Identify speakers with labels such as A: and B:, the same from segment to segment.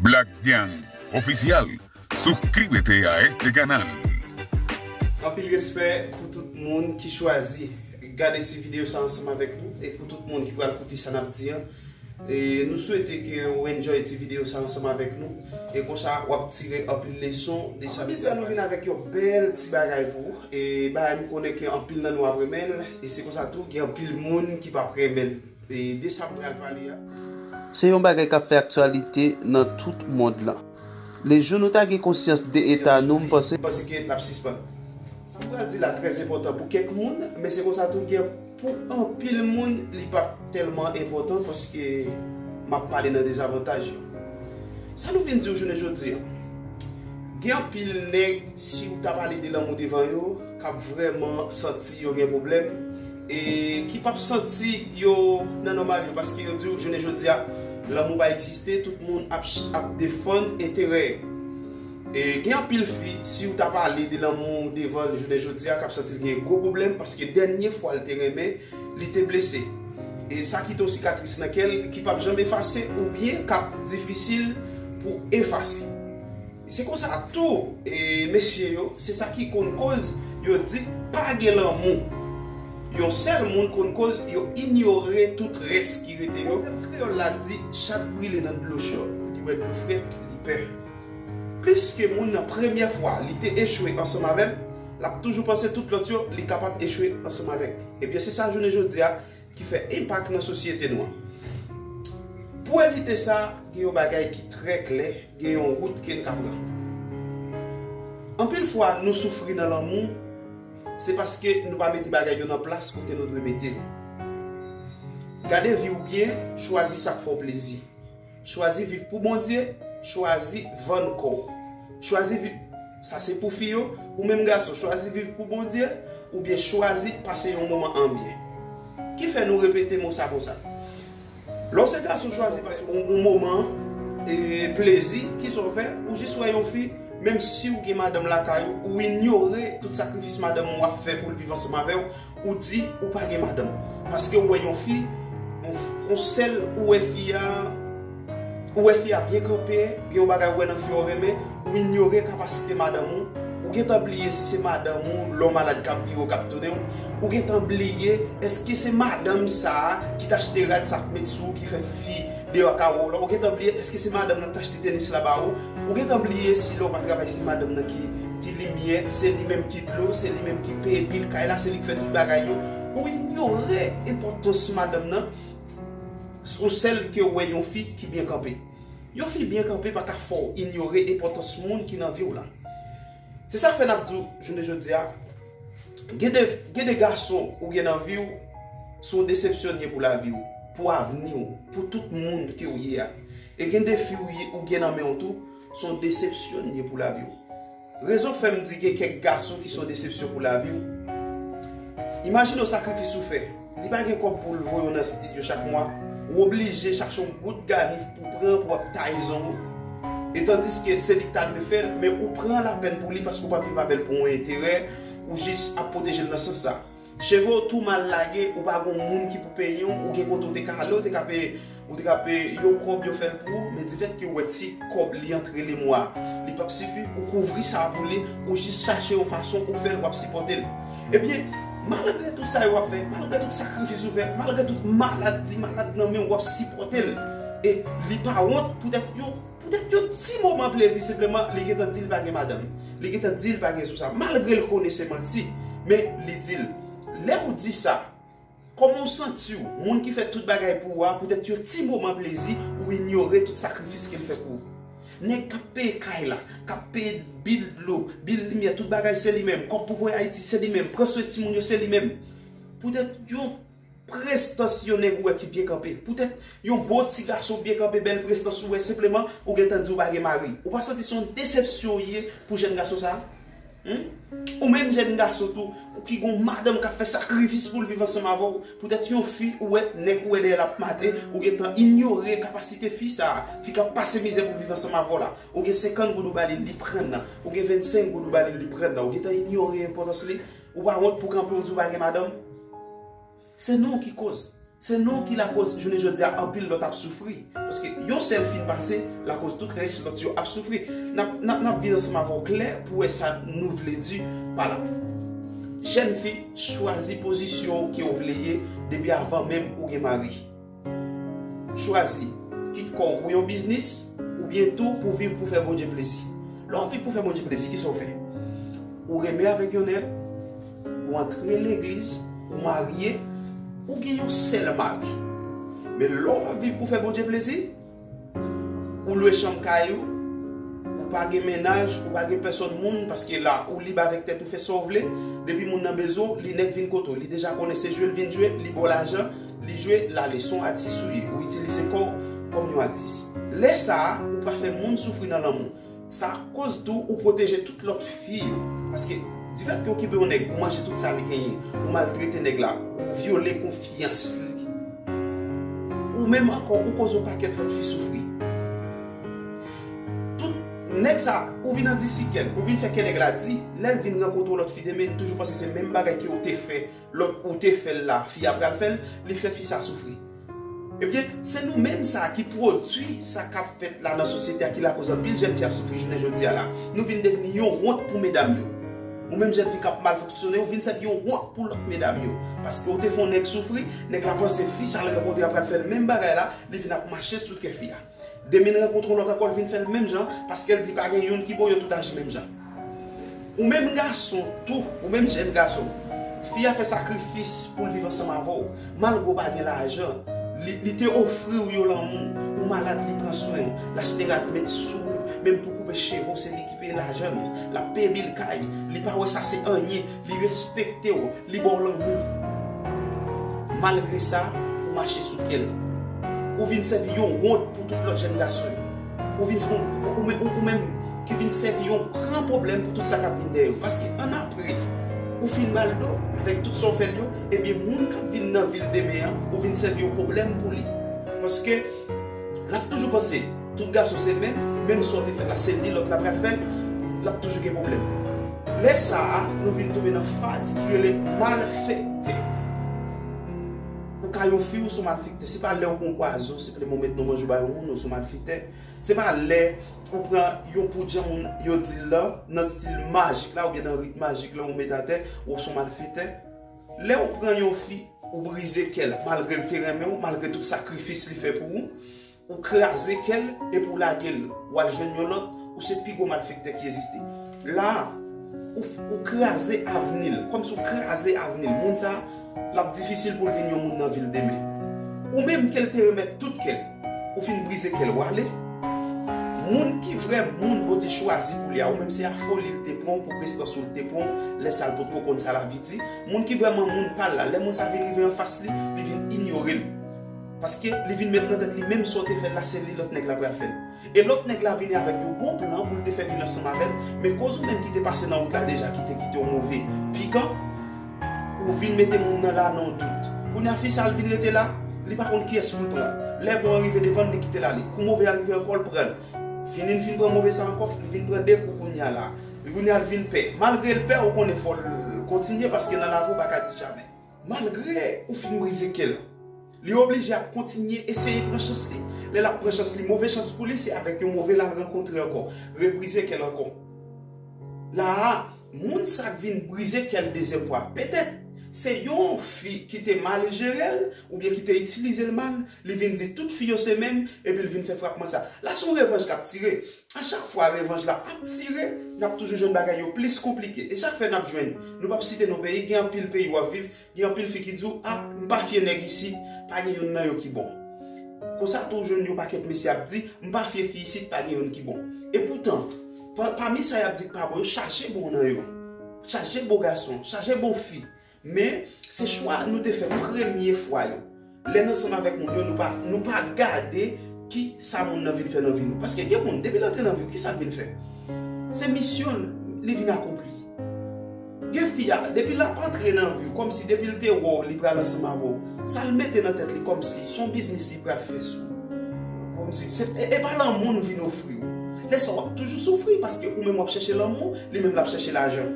A: Black Gang official suscríbete a este canal.
B: Anpil respè pou tout moun ki chwazi gade ti video sa ansanm avèk nou e pou tout moun ki pral koute sa nap di an nou swete ke ou enjoy ti video sa ansanm avèk nou e konsa wap tire anpil leson de sa nap di an nou vin avèk yon bèl ti bagay pou ou e bagay m konnen ke anpil nan nou ap renmenl e se konsa tou gen anpil moun ki pap renmenl. De sa m pral pale a. Se yon bagay k ap fè aktyalite nan tout mond lan. Le jou nou ta gen konsyans de eta nou, m panse. M panse ke n ap sispann. Sa m pral di la trè enpòtan pou kèk moun, men se konsa tou gen pou anpil moun li pa p tèlman enpòtan paske m ap pale nan dezavantaj yo. Sa nou vin di w jounen jodi an? Gen anpil nèg si w ta pale de lanmou devan yo k ap vrèman santi yo gen pwoblèm. e ki pap santi yo nan nòmal yo paske yo diw jounen jodia lanmou pa egziste tout moun ap defann enterè yo e gen anpil fi siw ta pale de lanmou devanl jounen jodia kap santil gen gwo pwoblèm paske dènye fwa li te renmen li te blese e sa kite yon sikatris nan kèl ki pap janm efase oubyen kap difisil pou efase. Se konsa tou mesye yo se sa ki konn koz yo di pa gen lanmou. Yon sèl moun konn koz yo inyore tout rès ki rete yo. Pwovèb kreyòl la di chat brile nan dlo cho, li wè dlo frèt li pè. Pliske moun nan premyè fwa li te echwe ansanm avè l, l ap toujou panse tout lòt yo li kapab echwe ansanm avèk li. Ebyen se sa jounen jodi a ki fè enpak nan sosyete nou an. Pou evite sa, gen yon bagay ki trè klè, gen yon wout ke n ka pran. Anpil fwa nou soufri nan lanmou, se paske nou pa mete bagay yo nan plas kote nou dwe mete yo. Gade vi w byen, chwazi sa k fè w plezi. Chwazi viv pou Bondye, chwazi vann kò w. Chwazi viv, sa se pou fi yo, ou menm gason chwazi viv pou Bondye oubyen chwazi pase yon moman anbyen. Ki fè nou repete mo sa konsa? Lè w se gason chwazi pase yon moman plezi, kisa w fè? Ou jis wè yon fi, menm si w gen madanm lakay ou, ou inyore tout sakrifis madanm ou ap fè pou l viv ansanm avè w, Ou di ou pa gen madanm. Paske ou wè yon fi, yon sèl ou wè fi a, ou wè fi a byen kanpe, gen yon bagay ou wè nan fi a ou renmen, ou inyore kapasite madanm ou, ou gentan bliye si se madanm ou lè w malad k ap vire w k ap tounen w, ou gentan bliye èske se madanm sa a ki t achte rad sa a k met sou ou ki fè fi deyò a kare w la, ou gentan bliye èske se madanm nan ki t achte tenis la ba ou, ou gentan bliye si lè w pa travay se madanm nan ki. Ki limyè, se li menm ki dlo, se li menm ki peye bil kay la, se li ki fè tout bagay yo. Ou inyore enpòtans madanm nan sou sèl ke ou wè yon fi ki byen kanpe. Yon fi byen kanpe pa ka fè w inyore enpòtans moun ki nan vi w la. Se sa k fè n ap di w jounen jodi a, gen de, gen de gason ou gen nan vi w, se yon desepsyon ye pou lavi w, pou avni w, pou tout moun ke ou ye a. E gen de fi ou gen nan men w tou. Son desepsyon li ye pou lavi w. Rezon k fè m di gen kèk gason ki son desepsyon pou lavi w. Imajine w sakrifis ou fè. Li pa gen kòb pou l voye w nan stidyo chak mwa. Ou oblije chache yon bout ganif pou w pran pou w ap taye zong ou. E tandiske se li k ta dwe fè l, men ou pran lapèn pou li paske ou pa viv avè l pou yon enterè, ou jis ap pwoteje l nan sans sa. Cheve w tou mal lage ou pa gon moun ki pou penyen w ou gen kote w te ka ale ou te ka peye ou te ka peye yon kòb yo fèl pou ou men difèt ke w wè ti kòb li antre le mwa li pap sifi ou kouvri sa pou li ou jis chache yon fason pou w fèl wap sipòte l ebyen malgre tout sa yo wap fè malgre tout sakrifis ou fè malgre tout malad li malad nan men w wap sipòte l e li pa wont poutèt yo. Poutèt yon ti moman plezi senpleman li gentan dil pa gen madanm, li gentan dil pa gen sou sa malgre l konnen se manti men li dil. Lèw di sa Koman w santiw moun ki fè tout bagay pou ou a poutèt yon ti moman plezi ou inyore tout sakrifis kel fè pou ou. Nèg kap peye kay la, kap peye bil dlo, bil limyè tout bagay se li menm, kòb pou voye ayiti se li menm, pran swen timoun yo se li menm. Poutèt yon. Prestans yon nèg ou wè ki byen kanpe. Poutèt yon bon ti gason byen kanpe, bèl prestans ou wè senpleman ou gen tan di ou pa gen mari. Ou pa santi se yon desepsyon li ye pou jèn gason sa a? Hum? Ou menm jèn gason tou, ou ki gen yon madanm k ap fè sakrifis pou l viv ansanm avè w, poutèt yon fi ou wè, nèg ou wè dèyè l ap mate, ou gen tan inyore kapasite fi sa a, fi k ap pase mizè pou viv ansanm avè w la. Ou gen senkant goud ou ba li, li pran nan. Ou gen vennsenk goud ou ba li, li pran nan. Ou gen tan inyore enpòtans li? Ou pa wont pou kanpe ou di ou pa gen madanm? Se nou ki koz. Se nou ki lakoz jounen jodi a anpil lòt ap soufri. Paske yon sèl fin pase lakoz tout rès lòt yo ap soufri. Nap viv ansanm avè w klè pou wè sa nou vle di pa la. Jèn fi, chwazi pozisyon ou ke ou vle ye depi avan menm ou gen mari. Chwazi, kit kò w pou yon biznis, oubyen tou pou viv pou fè Bondye plezi. Lè w viv pou fè Bondye plezi, kisa w fè? Ou renmen avèk yon nèg, ou antre legliz, ou marye, ou gen yon sèl mari. Men lè w pa viv pou fè Bondye plezi, Ou lwe chanm kay ou, ou pa gen mennaj, ou pa gen pèsòn moun paske la ou lib avèk tèt ou fè sa w vle, depi moun nan bezwen w li nèk vin kote w, li deja konnen se jwe l vin jwe, li ba w lajan, li jwe, l ale, son atis ou ye, ou itilize kò w kòm yon atis. Lè sa a, ou pa fè moun soufri nan lanmou. Sa koz tou ou pwoteje tout lòt fi yo. Paske di fèt ke ou kenbe yon nèg, ou manje tout sa li genyen, ou maltrete nèg la, ou vyole konfyans li. Ou menm ankò ou koz yon pakèt lòt fi soufri. Tout nèg sa ou vin andisi kèl, ou vin fè kè nèg la di, lèl vin rankontre yon lòt fi demen li toujou panse se menm bagay ke ou te fè. Lot ou te fel la fi a pral fel li fe fi sa soufri ebyen se nou menm sa ki pwodwi sa kap fet la nan sosyete a ki lakoz anpil jèn fi ap soufri jounen jodia la nou vin devni yon wont pou medam yo ou menm jèn fi kap mal fonksyone ou vin sèvi yon wont pou lot medam yo paske ou te fon nèg soufri nèg la panse fi sa l rankontre a pral fel menm bagay la li vin ap mache sou kè fi a. Demin rankontre yon lòt ankò li vin fèl menm jan paskel di pa gen youn ki bon yo tout aji menm jan. Ou menm gason tou, ou menm jèn gason, fi a fè sakrifis poul viv ansanm avèw, malgre ou pa gen lajan, li te ofriw yon lanmou, ou malad li pran swenw, l achte rad met sou ou, menm pou koupe chevew se li ki peye lajann, lap peye bil kay, li pa wè sa se anyen, li respektew, Li ba w lanmou. Malgre sa, ou mache sou pye l. Ou vin sèvi yon wont pou tout lòt jèn gason yo. Ou vin fè yon, ou menm ki vin sèvi yon gran pwoblèm pou tout sa k ap vin dèyè yo. Paske annapre, ou fin ba l do avèk tout sa w fè l yo, ebyen moun k ap vin nan vi l demen an, ou vin sèvi yon pwoblèm pou li. Paske. Lap toujou panse tout gason se menm, menm sa w te fè la se li lòt la pral fè l, lap toujou gen pwoblèm. Lè sa a nou vin tonbe nan faz ki rele malfèktè. Ou ka yon fi ou son malfèktè, se pa lè ou pran yon pwazon se premye ou met nan manje ou bay yon moun ou son malfèktè, se pa lè ou pran yon poud jan moun yo di l lan nan stil majik la oubyen nan rit majik la ou met atè ou son malfèktè. Lè ou pran yon fi, ou brize kè l. Malgre l te renmen ou, malgre tout sakrifis li fè pou ou, ou kraze kè l epi ou lage l. Ou al jwenn yon lòt, ou se pi gwo malfektè ki egziste. La a, ou kraze avni l. Kòmsi ou kraze avni l. Moun sa a, l ap difisil pou l vin yon moun nan vi l demen. Ou menm ke l te remèt tout kè l. Ou fin brize kè l wale. Moun ki vrè moun Bondye chwazi pou li a ou menm se a foli l te pran w pou prestans ou l te pran w lè sa l potko konn sa lavi di moun ki vrèman moun pa l la lè moun sa vin rive anfas li li vin inyore l paske li vin met nan tèt li menm sa w te fè l la se li lòt nèg la pral fè l e lòt nèg la vini avèk yon bon plan pou l te fè vin ansanm avè l men koz ou menm ki te pase nan wout la deja ki te kite w move pikan Ou vin mete moun nan la nan dout. Kounya fi sa al vin rete la, li pa konn kiyès poul pran. Lè bon an rive devanl li kitel ale. Kou move a rive ankò l pranl. Fini l fin pran move sa ankò, li vin pran 2 kou kounya la. Kounya l vin pè. Malgre l pè ou konnen fòl kontinye paske nan lavi ou pa ka di jamè. Malgre ou fin brize kel. Li oblije ap kontinye eseye pran chans li. Lè l ap pran chans li, move chans pou li, se avèk yon move l al rankontre ankò. Rebrize kè l ankò. La a, moun sa k vin brize kè l dezyèm fwa, petèt, se yon fi ki te mal jere l, oubyen ki te itilize l mal, li vin di tout fi yo se menm, epi l vin fè frapman sa. La se yon revanj k ap tire. A chak fwa revanj la ap tire, n ap toujou jwenn bagay yo plis konplike. E sa k fè n ap jwenn, nou p ap site non peyi, gen anpil peyi w ap viv, Gen anpil fi ki di w, ah m pa fye nèg isit, pa gen youn nan yo ki bon. Konsa tou w jwenn yon pakèt mesye ap di, m pa fye fi isit, pa gen youn ki bon. Epoutan, pami sa y ap di k pa bon yo, chaje bon nan yo. Chaje bon gason, chaje bon fi. Men, se chwa nou te fè premye fwa yo. Lè n ansanm avèk moun yo, nou pa gade ki sa moun nan vin fè nan vi nou. Paske gen moun, depi l antre nan vi w, ki sa l vin fè? Se misyon l li vin akonpli. Gen fi a, depi l ap antre nan vi w, kòm si depi l te wè w li pral ansanm avè w, sa l mete nan tèt li kòm si s on biznis li pral fè sou ou. Kòm si, e pa lanmou l vin ofri w. Lè sa w ap toujou soufri paske ou menm w ap chèche lanmou, li menm l ap chèche lajan.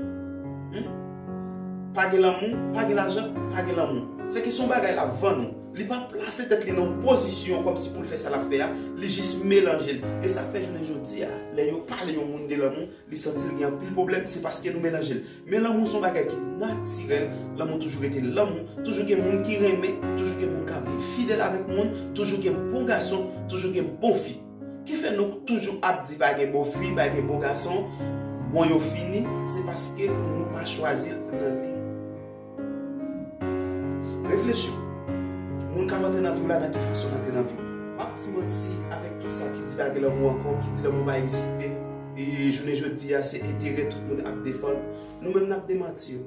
B: Pa gen lanmou, pa gen lajan, pa gen lanmou. Se ke se yon bagay l ap vann ou. Li pa plase tèt li nan yon pozisyon kòm si pou l fè sa l ap fè a, li jis melanje l. E sa k fè jounen jodi a, lè yo pale yon moun de lanmou, li santi l gen anpil pwoblèm, se paske nou melanje l. Men lanmou se yon bagay ki natirèl, lanmou toujou rete lanmou, toujou gen moun ki renmen, toujou gen moun k ap viv fidèl avèk moun, toujou gen bon gason, toujou gen bon fi. Ki fè nou toujou ap di pa gen bon fi, pa gen bon gason, bon yo fini, se paske nou pa chwazi nan li. Reflechi, moun kap antre nan viw la nan ki fason li antre nan viw? Map di manti avèk tout sa ki di pa gen lanmou ankò, ki di lanmou pa egziste, jounen jodi a se enterè tout moun ap defann, nou menm nap demanti yo.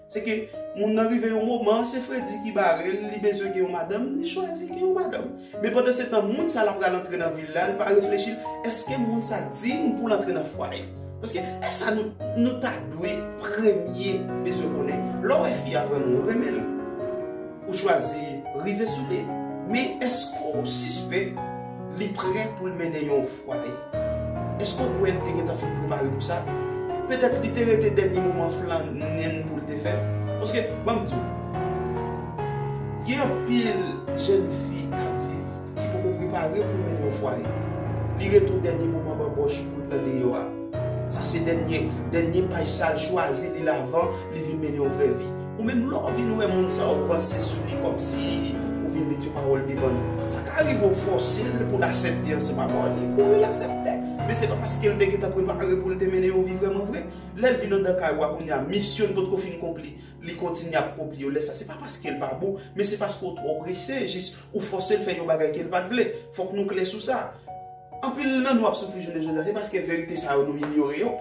B: Se ke moun nan rive yon moman, se fredi ki bare l, li bezwen gen yon madanm, li chwazi gen yon madanm. Men pandan se tan moun sa l ap pral antre nan vi l la, li pa reflechi, eske moun sa diy pou l antre nan fwaye? Paske e sa nou ta dwe premye bezwen konnen. Lè w wè fi a vrèman ou renmen l, ou chwazi rive sou li. Men eske ou sispèk li prè pou l mennen yon. Pwale, Èske ou kwè li te gentan fin prepare pou sa? Petèt li te rete dènye moman flannen pou l te fè? Paske, ban m di w, gen anpil jèn fi k ap viv ki poko prepare pou l mennen yon fwaye. Li rete yon dènye moman banbòch pou l pran deyò a. Sa se dènye paj sa l chwazi li l avan li vin mennen yon vrè vi. Ou menm lè w vin wè moun sa ou panse sou li kòmsi ou vin met yon pawòl devan li. Sa ka rive ou fòse l pou l asepte yon seri pawòl, li kouri l asepte. Men se pa paske l te gentan prepare pou l te mennen yon vi vrèman vre. Lè l vin andan kay ou a kounye a, misyon li potko fin konpli, li kontinye ap konpli yo. Lè sa se pa paske l pa bon, men se paske ou twò prese jis ou fòse l fè yon bagay ke l pa t vle. Fòk nou klè sou sa. Anpil nan nou ap soufri jounen jodi a se paske verite sa yo nou inyore yo.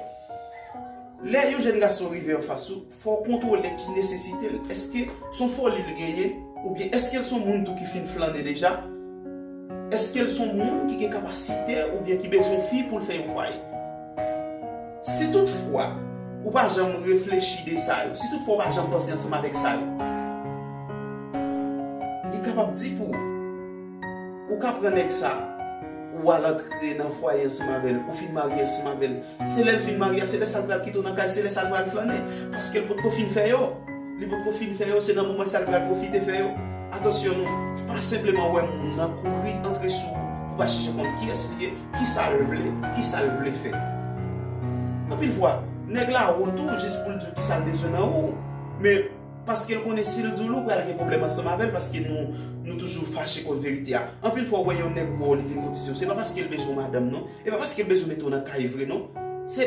B: Lè yon jèn gason rive anfas ou, fò w kontwole ki nesesite l. Èske s on foli l genyen? Oubyen èske l s on moun tou ki fin flannen deja? Èske l s on moun ki gen kapasite oubyen ki bezwen yon fi pou l fè yon fwaye? Si tout fwa ou pa janm reflechi de sa yo, si tout fwa ou pa janm panse ansanm avèk sa yo, li kapab di pou ou. Ou ka pran nèg sa, ou al antre nan fwaye ansanm avè l, ou fin marye ansanm avè l. Se lè l fin marye a, se lè sa l pral kite w nan kay, se lè sa l pral flannen. Paske l pot ko fin fè yo. Li pot ko fin fè yo, se nan moman sa l pral pwofite fè yo. Atansyon nou, pa senpleman wè moun nan kouri antre sou ou pou pa chèche konn kiyès li ye, kisa l vle, kisa l vle fè. Anpil fwa, nèg la wont ou jis pou l di w kisa l bezwen nan ou. Men. Paskel konnen sil dil ou pral gen pwoblèm ansanm avèl paske nou nou toujou fache kont verite a. Anpil fwa ou wè yon nèg wè w li vin kotize w se pa paskel bezwen w madanm non, e pa paskel bezwen mete w nan kay vre non. Se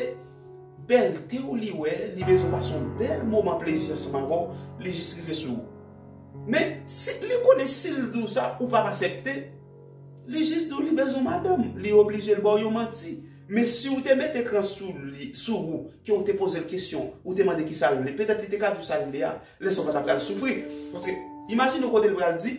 B: bèlte w li wè, li bezwen pase yon bèl moman plezi ansanm avè w, li jis rive sou ou. Men, si li konnen sil di w sa ou pap asepte, li jis di w li bezwen w madanm, li oblije l ba w yon manti. Men si ou te met ekran sou li, sou ou, ke ou te poze l kesyon, ou te mande kisa l vle, petèt li te ka di w sa l vle a, lè sa ou pa ta pral soufri. Paske, imajine w kote l pral di,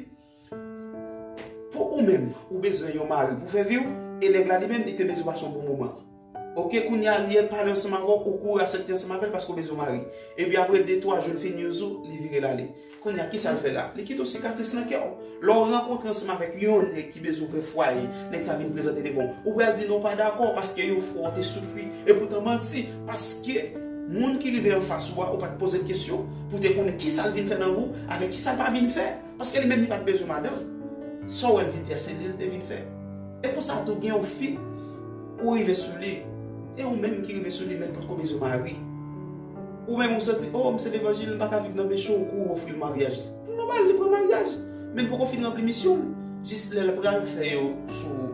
B: Pou ou menm, ou bezwen yon mari pou fè vi w, e nèg la li menm, li te bezwen mason pou moman an. Oke, kounye a, li al pale ansanm avè w, ou kouri asepte ansanm avè l paske ou bezwen mari. Epi apre de twa jou l fin use ou, li vire l ale. Kounye a, kisa l fè la? Li kite yon sikatris nan kè w. Lè w rankontre ansanm avèk yon nèg ki bezwen ouvè fwaye, nèg sa vin prezante devan w, ou pral di non w pa dakò paske yon fwa w te soufri. Epoutan manti, paske moun ki rive anfas ou a, ou pa t poze l kesyon pou w te konnen kisa l vin fè nan vi w avèk kisa l pa vin fè. Paske li menm li pa t bezwen madanm. Sa w wè l vin fè a, se li l te vin fè. E konsa tou, gen yon fi, ou rive sou li, e ou menm ki rive sou li menm potko bezwen mari. Ou menm ou santi oh m se levanjil m paka viv nan peche ou kou ou ofri l maryaj li. Li nòmal li pran maryaj men li poko fin ranpli misyon l jis lè l pral fè yo sou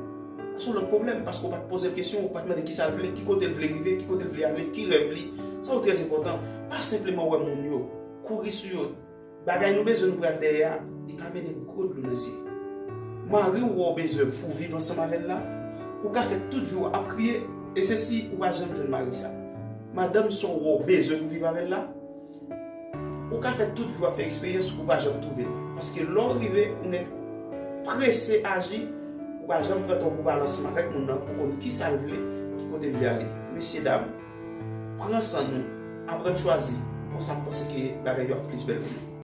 B: sou lòt pwoblèm paske ou pat poze l kesyon ou pat mande kisa l vle ki kote l vle rive ki kote l vle ale ki rèv li sa yo trè enpòtan pa senpleman wè moun yo kouri sou yo Bagay nou bezwen nou pral dèyè a li ka mennen gwo dlo nan zye. Mari w wè w bezwen pou w viv ansanm avè l la, ou ka fè tout vi w ap kriye e se si ou pa janm jwenn mari sa. Madanm sa w wè w bezwen pou w viv avè l la, ou ka fè tout vi w ap fè eksperyans ou pa janm twouve l. Paske lè w rive ou mèt prese aji, ou pa janm pran tan w pou w pale ansanm avèk moun nan pou w konn kisa l vle, ki kote l vle ale. Mesye dam! Pran san nou, aprann chwazi, konsa m panse ke bagay yo ap plis bèl pou nou.